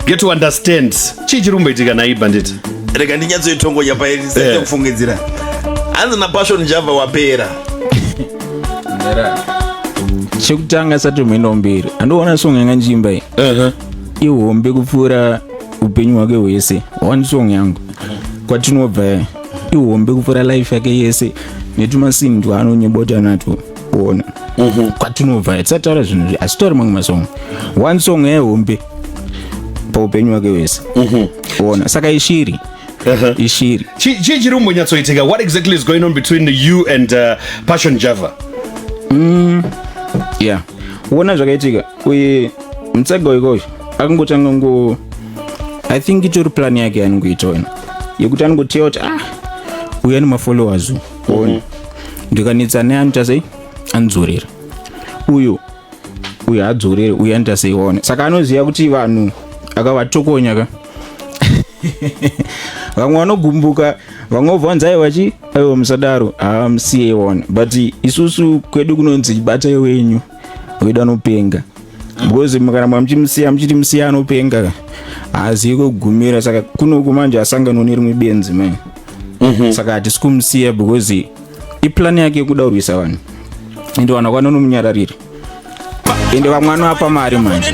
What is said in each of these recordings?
get to understand chii chiri kumboitika naiyi bandit rega ndinyatsoitongonya pairi Eh. sese kufungidzira hanzi napassion java wapera chekutanga asati muenda mberi andiona song yanga ndichiimba iyi Uh-huh. ihombe kupfuura upenyu hwake hwese one song yangu kwatinobva ihombe kupfuura life yake yese netumasini twaanonyebota natwo kuona mhm. kwatinobva hatisati taura zvinhu izvi asi tori mamwe masong one song yehombe paupenyu wake wese mhm. ona saka ishiri uh-huh. ishiri chii chiri kumbonyatsoitika what exactly is going on between you and uh, passion java mm, yeah wona zvakaitika uye mutsaga wekosho akangotanga ngo i think itori plan yake yaanongoita wena yekuti anongoteya kuti ah uya nemafollowers mm. ndikanetsa naye anoita sei anodzorera uyu uyu hadzorere uyu anoita sei waona saka anoziva kuti vanhu akavatokonya ka vamwe vanogumbuka vamwe vobvanzai vachi aiwa musadaro haamsiye one but isusu kwedu kunonzi batai wenyu wedu anopenga because mukaramba muchimusiya muchiti musiya anopenga haazivi kugumira saka kune uku manje asanganwa nerimwe benzi mai mhm. saka hatisi kumusiya because iplani yake yekuda kurwisa vanhu ende vanhu vakwana nomunyarariri ende vamwana vapa mari manje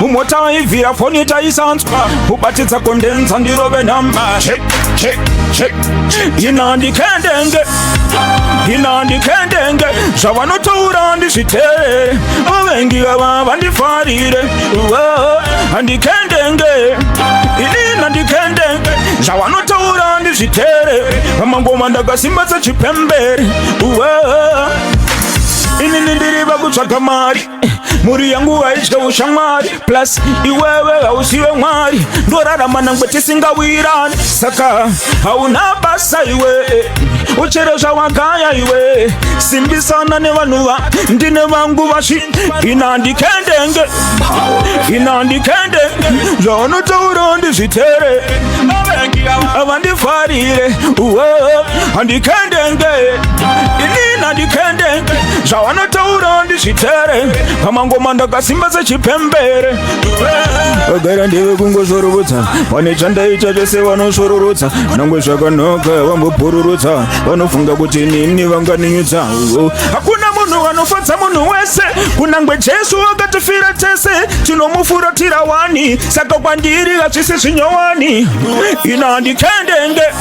mumota aivhira foni itaisanzwa ubatidza kondenza ndirove nhamba ina ndikendenge ina ndikendenge zvavanotaura ndizviteerere vavengi vava vandifarire handikendenge inina ndikendenge zvavanotaura ndizviteerere vamangoma ndakasimbatsa chipembere inini ndiri vakutsvaga mari mhuri yangu haidye ushamwari plus iwewe hausiwe mwari ndorarama nangwe tisingawirani saka hauna basa iwe uchere zvawagaya iwe simbisana nevanhu va ndine vangu vashi inandikendenge inandikendenge zvaunotaura ndizvitere avandifarire uwe handikendenge ini nandikendenge zvavanotaura ndizvitere pamangoma ndakasimba sechipembere vagara ndeve kungosvororotsa pane chandaita zvese vanosvororotsa nangwe zvakanaka vambopururutsa vanofunga kuti nini vanganinyutsa hakuna munhu vanofadza munhu wese kunangwe jesu akatifira tese tinomufuratira wani saka kwandiri hazvisi zvinyowani ina handikendenge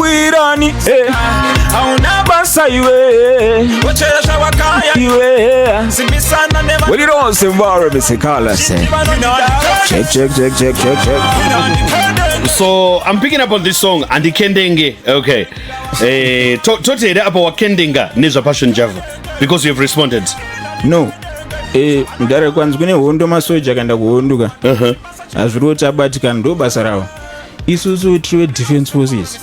wirani hauna basa iwe When it all seems warm, it's a color. Check, check, check, check, check, check. So I'm picking up on this song, Andy Kendenge. Okay. Eh, to- tote here apa wakendenga nezvapassion java because you have responded no eh mudhara kwanzi kune hondo masoja akaenda kuhondo ka hazviri kuti abatikana ndo basa ravo isusu tiri vedefense forces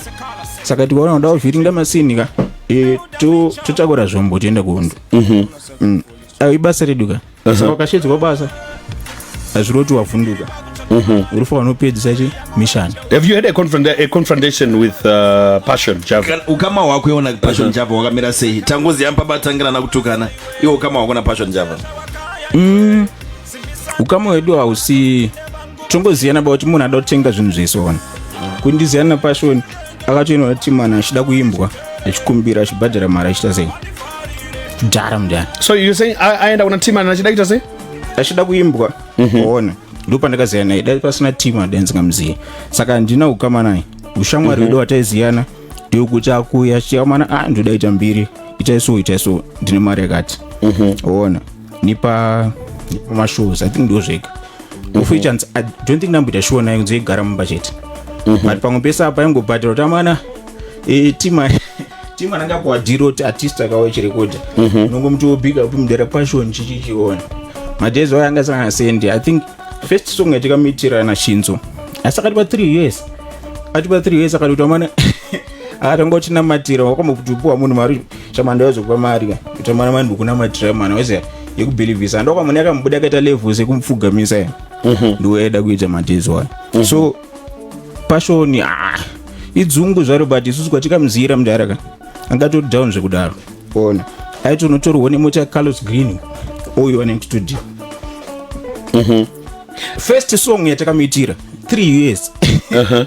saka tikaona kuda kuvhiringa masini ka e, totakura zvombo tienda kuhondo mhm. mm. ayo ibasa redu ka mhm. saka ukashedzwa basa hazviri kuti wavhunduka mhm. uri fa vanopedzisa chi mission have you had a, confront, a confrontation with uh, passion java ukama hwako iona passion java wakamira sei tangoziva mpabatangira nakutukana iwo ukama hwako napassion java mm. ukama wedu hausi tongoziyana ba kuti munhu ada kutenga zvinhu zvese ona kundiziyana napashoni akatoinwa kuti mwana achida kuimbwa achikumbira achibhadhara mari achita sei dhara mudhara so you saying a- aenda kuna timana achida kuita sei achida kuimbwa ona ndopandakaziya naye dai pasina timu adai ndingamuziye saka handina ukama naye ushamwari hwedu hwataiziyana ndeyekuti akuya chiamana a ndoda ita mbiri itai so itai so ndine mari yakati ona nepa nepamashows i think ndozvega mhm. ofu ichanzi i don't think ndamboita shuwa nayo kunze igara mumba chete mhm. but pamwe pese apa yangobhadhira kuti amana e, tima tima rangapuwa dhiro kuti artist akawa chirekodha mhm. unongomuti wobhiga upi mudera pashoni chichichiona madays wayo anga sangana sendi i think first song yatikamuitirana shinzo asi akati pa three years ati pa three years akati kuti amana atanga uchinamatira wakambokutupiwa munhu mari chamanda yozokupa mari ka kuita mwana mani ndikunamatira mwana wese yekubhilivhisa ndoka mwana yakamubuda akaita level sekumupfugamisa ya mhm. ndiwo yaida kuita matezo ayo mhm. so pashoni ah, idzungu zvaro but isusu kwatikamuziyira mudhara ka angatori down zvekudaro ona aiti unotorwa nemota carlos green uyo ane studio mhm. first song yatakamuitira three years uh-huh.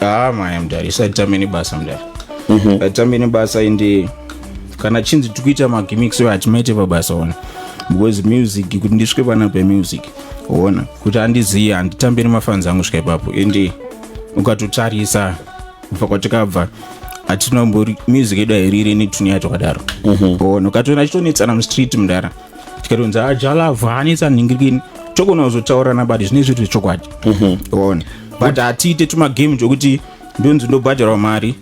ah maya mudhara isu atitambe nebasa mudhara mhm. atitambe nebasa ende kana chinzi tiri kuita magimix oyo hatimaite pabasa ona because music kuti ndisvike pana pemusic ona kuti andizive handitambe nemafanzi angu svika ipapo ende ukatotarisa kubva kwatikabva hatinambori music yedu hairiri netune yacho kadaro ona mhm. ukatoona chitonetsana mustreet mudhara tikatonzi ajalava ah, hanetsa nhingirikini tokona kuzotaurirana but zvine zviri zvechokwadi mhm. one but hatiite tumagame twekuti ndonzi ndobhadharwa mari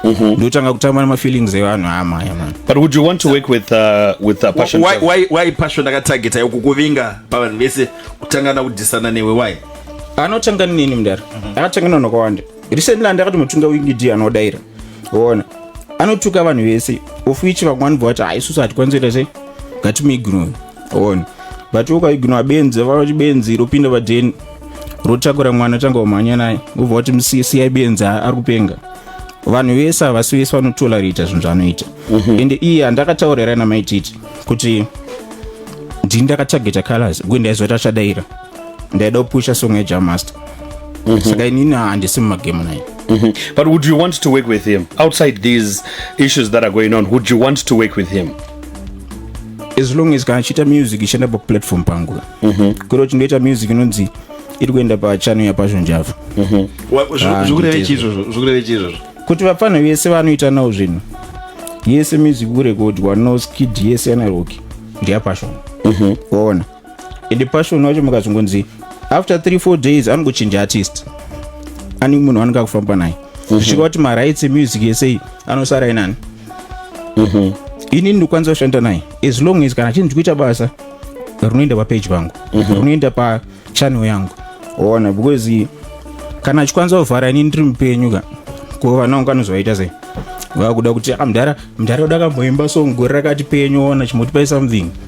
mhm. ndotanga kutamba nemafeelings evanhu amaya ah, man but would you want to work with, uh, with uh, passion why, why, why passion akatargeta yo kukuvinga pavanhu vese kutanga nakudhisana newe why anotanga nini mudari mhm. akatanga nanhu akawanda recently andakati mutunga wingidi anodaira ona anotuka vanhu vese of which vamwe vanobva vati haisusu hatikwanisi kuita sei ngatimuignore ona but ukaignore benzi vavati benzi ropinda vadheni rotakura mwana tanga umhanya naye ubva wati musiyai benzi ari kupenga vanhu vese havasi vese vanotolerata zvinhu zvaanoita mhm. ende iye handakataurira namaititi kuti ndini ndakatageta colors kuenda izoti achadaira ndaida kupusha song yajamaster mm -hmm. saka inini handisi mumagemu naye Mm -hmm. But would you want to work with him outside these issues that are going on? Would you want to work with him? As long as kana achiita music ichienda paplatform pangu mm -hmm. kuri uchindoita music inonzi iri kuenda pachano yapasho njava mm -hmm. zvikureve chii izvozvo zvikureve chii izvozvo kuti vapfanha vese vanoita nawo zvinhu yese music kurekodwa noskid yese yanaroki ndeyapashona mm -hmm. waona ende passion wacho mukazongonzi after 3 4 days anongochinja artist ani munhu anenge akufamba naye mhm. zvichika kuti marights emusic yesei anosara inani mhm. inini ndikwanisa kushanda naye as long as kana chinhu chikuita basa rinoenda papeji pangu mhm. rinoenda pachannel yangu ona because kana achikwanisa kuvhara inini ndiri mupenyu ka ko vana vangu anozovaita sei vakuda kuti amdhara ah, mdhara uda kamboimba so ngori rakati penyu ona chimutipai something mm -hmm.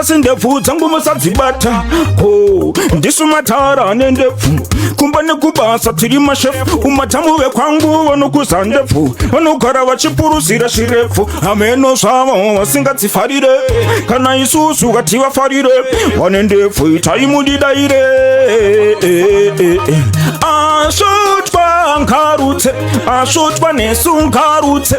asi ndebvu dzangu musadzibata ho ndisu matara ane ndebvu kumba nekubasa tiri mashefu umatamu vekwangu vanokuza ndebvu vanogara vachipuruzira zvirebvu hameno zvavo vasingadzifarire kana isusu vati vafarire vane ndebvu itai mudidaire asvotwa ngarutse asvotwa nesu ngarutse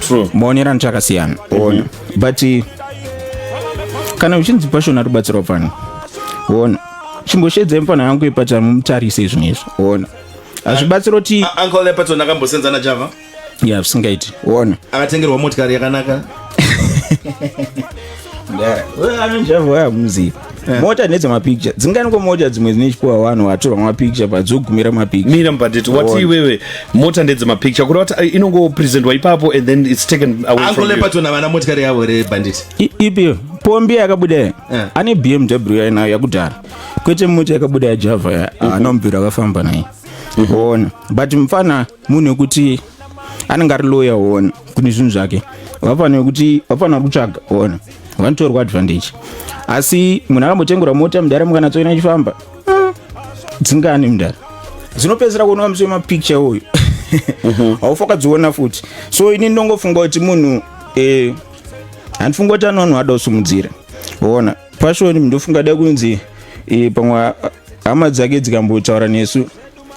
true maonero anoto akasiyana ona but eh, kana uchinzi pashona rubatsirwa pano ona chimboshedzai mufana yangu ipatara mumutarise izvi nezvi ona hazvibatsira kuti A- uncle epaton akambosenza najava ya zvisingaiti ona akatengerwa motikari yakanaka anonjavaya muziva eh. mota nedza mapicture dzinganiko mota dzimwe dzine chipuwa vanhu vatorwa mapicture padzogumira mapicturemira mubhadheti wati iwewe mota ndedze mapicture kureva kuti eh, inongopresentwa ipapo and then its taken awayangolempatona vana motikari yavo rebhanditi ipi pombi yakabuda eh. ane bmw yainayo yakudhara kwete mota yakabuda yajava anomubviro akafamba naye mhm. ona but mfana munhu wekuti anenge ari lawyer one kune zvinhu zvake vafanira kuti vafanira kutsvaga one vanotorwa advantage asi munhu akambotengura mota mudhara mukana tsoina achifamba hmm, dzingani mudhara dzinopedzisira kuoneka muswe mapicture uyu mhm. haufa kadziona futi so ini ndongofunga kuti munhu eh, handifunga kuti ano vanhu ada kusumudzira ona pashoni ndofunga da kunzi eh, pamwe hama dzake dzikambotaura nesu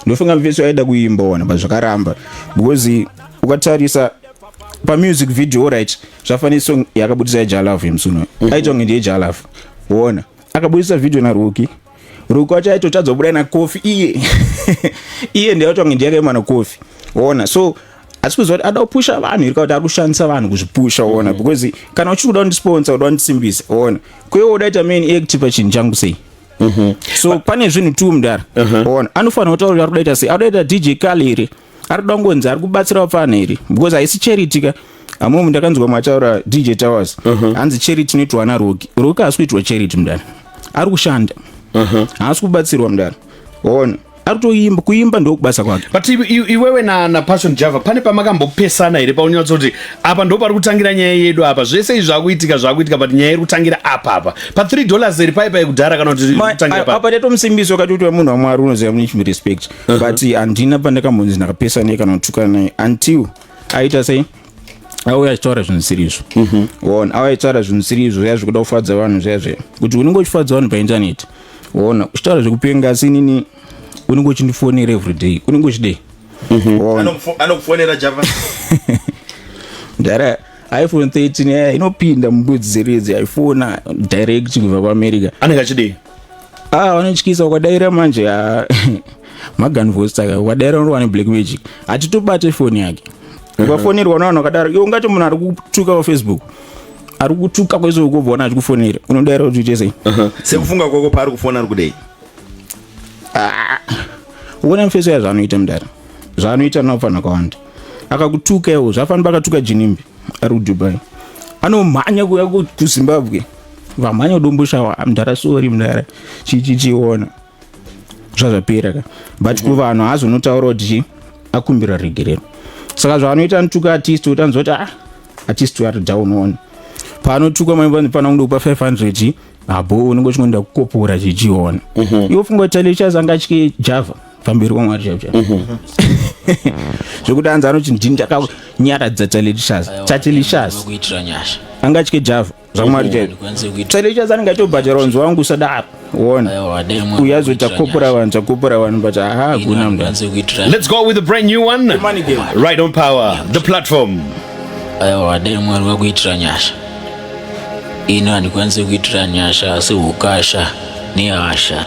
ndofunga mfeso aida kuimba wana but zvakaramba because ukatarisa pamusic video right zvafanira song yakabudisa yejalav yemusuno mm -hmm. aitwa nge ndiyejalav wona akabudisa video naroki roki wacho aitotadza kubuda nakofi iye iye ndiyaitwa nge ndiyakaima nakofi wona so asi kuziva kuti ada kupusha vanhu irika kuti ari kushandisa vanhu kuzvipusha wona mm -hmm. because kana uchiri kuda kundisponsor uda kundisimbisa wona kwewe udaita main act pachinhu changu sei mhm. so pane zvinhu tu mdara mhm. ona anofanira kutaura ari kudaita sei adoita dj kali here ari kuda kungonzi ari kubatsira vapfana here because haisi charity ka amomu ndakanzwa mataura dj towers mhm. hanzi charity inoitwa ana roki roki haasi kuitwa charity mdara ari kushanda haasi kubatsirwa mdara ona aritoimba kuimba ndokubasa kwake but iwewe na, na passion java pane pamakambopesana here paunyautsa kuti apa ndo pari kutangira nyaya yedu apa zvese izvi zvakuitika zvakuitika but nyaya iri kutangira apa apa pa 3 dollars iri paipa yekudhara kana kuti apa taita musimbisi wakati kuti munhu wamwari unoziva mune chimi respect uh -huh. but handina pandakambonzi ndakapesana naye kana kutukana naye until aita sei auya achitaura zvinhu zvisiri izvo mhm. auya achitaura zvinhu zvisiri izvo zviya zvikuda kufadza vanhu zviya zviya kuti unenge uchifadza vanhu paintaneti ona uchitaura zvekupenga asi inini unenge uchindifonera everyday unenge uchidei mhm. anokufonera java ndara iphone 13 yaya eh, inopinda mubudzi dzeredzi yaifona direct kubva kuamerica anenge achidei ah vanotyisa ukadaira manje ah, magan voice taka ukadaira unowa neblack magic hatitobate foni yake ukafonerwa navanhu vakadaro iwe ungati munhu ari kutuka pafacebook mm -hmm. ari kutuka kwese ukubvona achikufonera unodaira kuti uite sei uh-huh. sekufunga kwako paari kufona ari kudei ah. uona mufeso ya zvaanoita mudara zvaanoita naofanha kwawanda akakutuka iwo zvafanira pakatuka jinimbi ari kudubai anomhanya kuya kuzimbabwe vamhanya kudomboshawa mdara sori mdara chichichiona zvazvapera ka but mhm. kuvanhu haazonotaura kuti akumbira regerero saka zvaanoita nituka artist utanzwa kuti ah at least we are down on panotukwa mai vanhu pano kuda kupa 500 habo unenge uchingoenda kukopora chichiona mhm. iwo funga kuti lectures anga achike java pamberi kwamwari chaipo chaipo mhm. zvekuti anzi anoti ndini ndakakunyaradza talelishas tatelishas anga achike java zvamwari chete chalecha zanenge atobhadhara wanzi wangu usadaro wona uyo azoita kopora vanhu chakopora vanhu but aha hakuna mdalets go with a brand new one right on power the platform aiwa dai mwari vakuitira nyasha ini handikwanise kuitira nyasha asi ukasha nehasha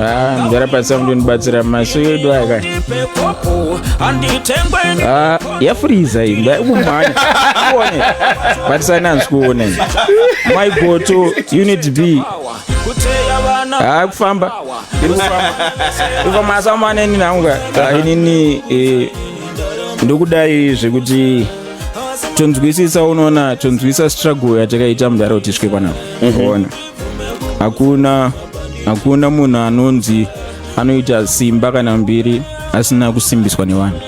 Ah, mzara pasa mndu nibatsira maso yedu aya kani Ah, yafuriza iyi mba kumhanya kuone batisani hanzi kuone my goto unit b Ah, kufamba iri kufamba iri kufamba asamane nini hangu ka Ah, inini eh, ndokudai zvekuti tonzwisisa unoona tonzwisisa struggle yatakaita mudhara kuti svike panapa unoona hakuna hakuna munhu anonzi anoita simba kana mbiri asina kusimbiswa nevanhu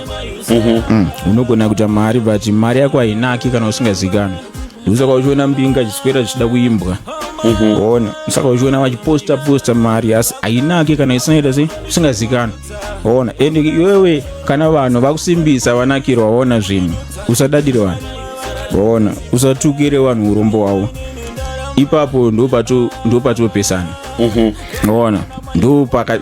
mhm. mm. unogona kuita mari but mari yako hainaki kana usingazikani ndosaka uchiona mbinga chiswera chichida kuimbwa mhm. ona saka uchiona vachiposta posta mari asi hainaki kana isinaita se usingazikani ona and iwewe kana vanhu vakusimbisa vanakirwa ona zvinhu usadadire vanhu ona usatukire vanhu urombo hwavo ipapo ndopatopesana mhm. ona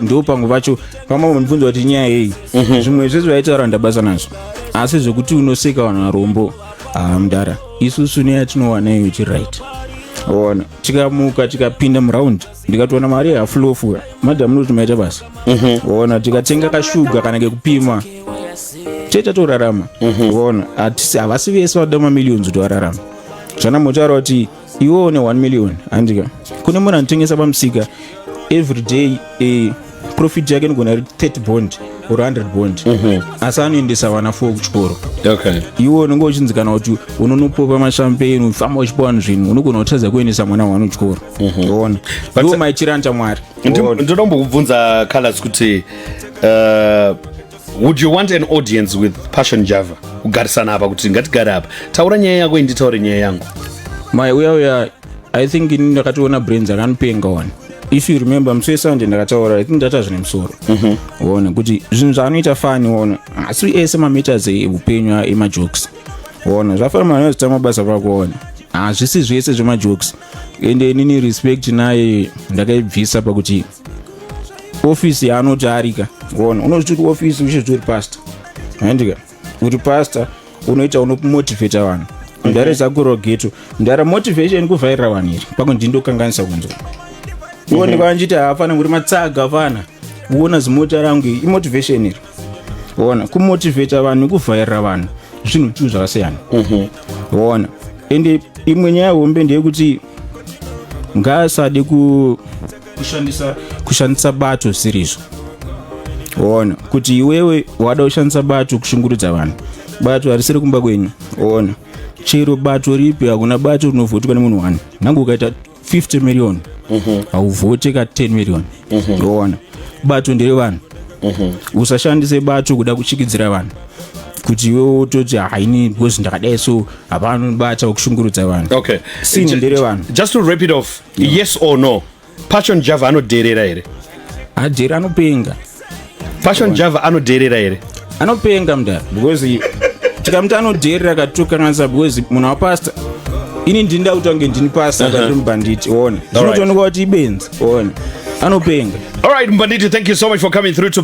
ndopamwe pacho pamwe mubvunzo vati nyaya yeyi mhm. zvimwe zvese vaitaura ndabasa nazvo asi zvekuti unoseka vanhu varombo haa mdara isusu neyatinowana iyo chiright ona tikamuka tikapinda muraundi ndikatoona mari yehafulofu madam noti maita basa mhm. ona tikatenga kashuga kana kekupima tete torarama mhm. ona hatisi havasi vese vada mamillions kuti vararama zvana motaura kuti iwe une 1 million handika kune munhu anotengesa pamusika every day eh, profit yake inogona ri 30 bond or 100 bond mhm. asi anoendesa vana fo kuchikoro iwe unenge uchinzi kana kuti unonopopa mashampeni ufamba uchipa vanhu zvinhu unogona kutadza kuendesa mwana wanu kuchikoro mhm. ona ndiwo maitiro anoita mwari ndoda kumbokubvunza colors kuti uh, would you want an audience with passion java kugarisana apa kuti ngatigare apa taura nyaya yako inditaure nyaya yangu mai uya uya i think ini ndakatoona brains akanopenga one if you remember musi wesunday ndakataura i think ndata zvine musoro mhm. one kuti zvinhu zvaanoita fani one asi ese mameters eupenyu emajokes one zvafana mwana wezita mabasa pako one hazvisi zvese zvemajokes ende inini respect naye ndakaibvisa pakuti ofisi yaanoti arika one unozviti kuti ofisi uche zviri pasta handika uri pastor unoita unomotivata vanhu mdare mhm. zakurogeto mdare motivation kuvhairira vanhu iri pako ndindokanganisa kunzwa iwo ndikava mhm. ndichiti hafana kuti matsaga afana uona zimota rangu iri imotivation iri ona kumotivata vanhu kuvhairira vanhu zvinhu tuu zvakasiyana mhm. ona ende imwe nyaya hombe ndeyekuti ngaasade ku kushandisa kushandisa bato zvirizvo ona kuti iwewe wada kushandisa bato kushungurudza vanhu bato harisiri kumba kwenyu ona chero bato ripi hakuna bato rinovhotiwa nemunhu wani nangu ukaita 50 million mhm. hauvhote ka 10 million mhm. ona bato ndere vanhu mhm. usashandise bato kuda kuchikidzira vanhu kuti iwe wototi haini because ndakadai so hapano bata kushungurudza vanhu okay. sini ndere vanhu just to rap it off yes or no passion java anodherera here hajeri anopenga passion java anodherera here anopenga mda because tikamuti anodherera katokanganisa because munhu wapasta ini ndini ndakutange ndini pasta uh-huh. katiri mubhanditi one zvinotoonekwa kuti ibenzi one anopenga all right mbanditi thank you so much for coming through to